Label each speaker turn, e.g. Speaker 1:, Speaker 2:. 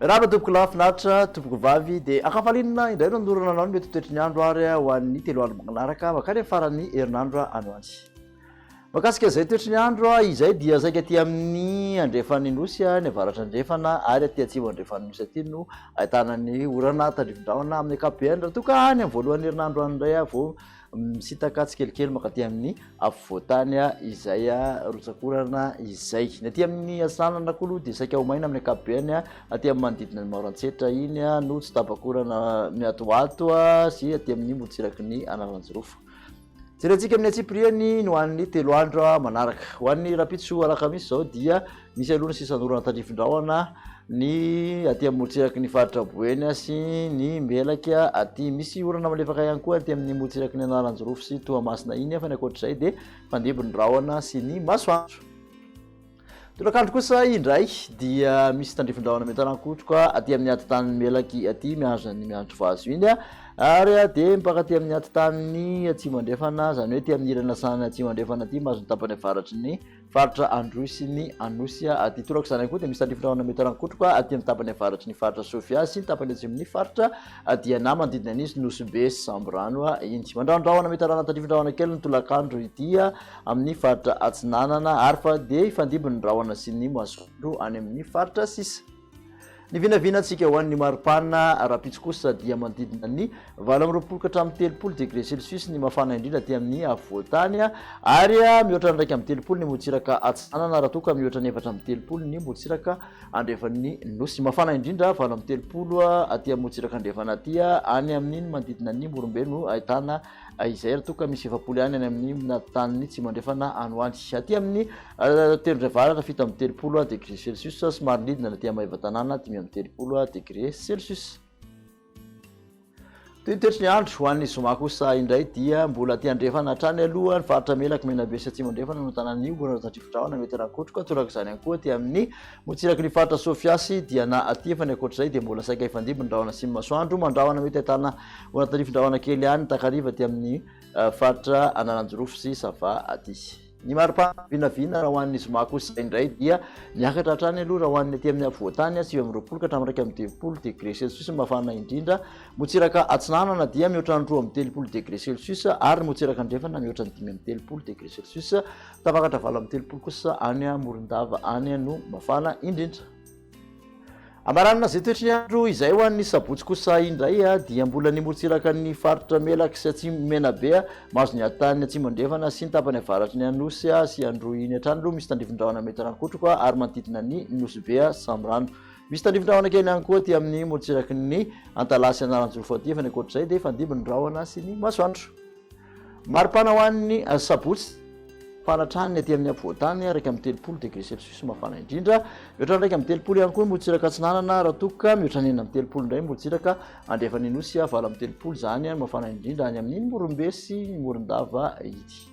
Speaker 1: Rava tompoko lahy finaritra tompoko vavy de akafalinina indray no anorana anao ny mety toetry ny andro ary ho an'ny telo andro manaraka makany amin'ny faran'ny herinandro any ho any. Mahakasika izay toetry ny andro, izay dia saika aty amin'ny andrefan'ny Nosy, any avaratrandrefana ary aty atsimo andrefan'ny Nosy aty no ahitana ny orana tandrifin-drahona amin'ny ankapobeny raha toa ka any amin'ny voalohan'ny herinandro any indray vao misintaka tsikelikely mankaty amin'ny afovoan-tany izay rotsakorana izay. Ny aty amin'ny Atsinanana koa aloha dia saika ho maina amin'ny ankapobeny, aty amin'ny manodidina ny Maorantsetra iny no tsy tapakorana miatoato sy aty amin'ny morontsiraky ny Analanjirofo. Jerentsika amin'ny antsipiriany ny ho an'ny telo andro manaraka. Ho an'ny rapitso alakamisy izao dia misy aloha ny sisan'orana tandrifin-drahona ny aty amin'ny morontsiraky ny faritra Boeny sy ny Melaky aty. Misy orana malefaka ihany koa aty amin'ny morontsiraky ny Analanjirofo sy Toamasina iny fa ny ankoatr'izay dia fandimby ny rahona sy ny masoandro. Tolakandro kosa indray dia misy tandrifindrahona miantanakotroka aty amin'ny atitan'ny melaky aty mihazo an'ny mianatry vazo iny ary dia mipaka aty amin'ny atitan'ny atsimo andrefana izany hoe aty amin'ny ilany lasan'ny atsimo andrefana aty mahazo ny tapany avaratry ny faritra androy sy ny anosy aty tolaka izany ihany koa dia misy tandrifindrahona miantanakotroka aty amin'ny tapany avaratry ny faritra sofia sy ny tapany atsimon'ny faritra diana manodidina an'izy nosy be sy samborano iny mandrandrahona mitarana tandrifindrahona kely ny tolakandro ity amin'ny faritra Atsinanana ary fa dia hifandimby ny rahona sy ny masoandro any amin'ny faritra sisa. Ny vinavinantsika ho an'ny mari-pana rahampitso kosa dia manodidina ny valo amby roapolo ka hatramin'ny telopolo degré celsius ny mafana indrindra aty amin'ny afovoan-tany ary mihoatra ny iraika amby telopolo ny motsiraka atsinanana raha toa ka mihoatra ny efatra amby telopolo ny motsiraka andrefan'ny nosy. Mafana indrindra valo amby telopolo aty amin'ny motsiraka andrefana aty any amin'ny manodidina ny Morombe no ahitana izay ary toa ka misy efapolo ihany any amin'ny tany tsy mandrefana any ho any. Aty amin'ny tendrombohitra avaratra fito amby telopolo degré celsius, somary nidina aty amin'ny Maevatanàna dimy amby telopolo degré celsius. Toy ny toetry ny andro ho an'ny zoma kosa indray dia mbola aty andrefana hatrany aloha ny faritra melaky Menabe sy Atsimo andrefana no tanan'ny omby na tatrifodrahona mety rakotroka, torak'izany ihany koa aty amin'ny Motsiraky ny faritra Sofia sy Diana aty fa ny ankoatr'izay dia mbola saika hifandimby ny rahona sy ny masoandro. Mandrahona mety ahitana orana tarifindrahona kely ihany takariva aty amin'ny faritra Analanjirofo sy Sava aty. Ny mari-pana vinavina raha ho an'ny zoma kosa indray dia miakatra hatrany aloha raha ho an'ny aty amin'ny afovoantany, sivy amby roapolo ka hatramin'ny iraika amby telopolo degré celsius ny mafana indrindra. Motsiraka atsinanana dia mihoatra ny roa amby telopolo degré celsius ary motsiraka andrefana mihoatra ny dimy amby telopolo degré celsius Tafakaratra valo amby telopolo kosa any Morondava any no mafana indrindra. Hamaranana izay toetry ny andro izay ho an'ny sabotsy kosa indray dia mbola ny morontsiraka ny faritra Melaky sy Atsimo Menabe mahazo ny hatan'ny Atsimo Andrefana sy ny tapany avaratry ny Anosy sy Androy iny hatrany aloha misy tandrifin-drahona mety harankotroko ary manodidina ny Nosy Be Samirano. Misy tandrifin-drahona kely ihany koa aty amin'ny morontsiraky ny Antalaha sy Analanjoro fahatelo fa ny ankoatr'izay dia fandimby ny rahona sy ny masoandro. Maripana ho an'ny Sabotsy, mafana hatrany ny aty amin'ny afovoan-tany, iraika amby telopolo degré Celsius mafana indrindra, mihoatra ny iraika amby telopolo ihany koa ny morotsiraka atsinanana, raha toa ka mihoatra ny enina amby telopolo indray ny morotsiraka andrefan'ny Nosy, valo amby telopolo izany no mafana indrindra any amin'iny Morombe sy Morondava iny.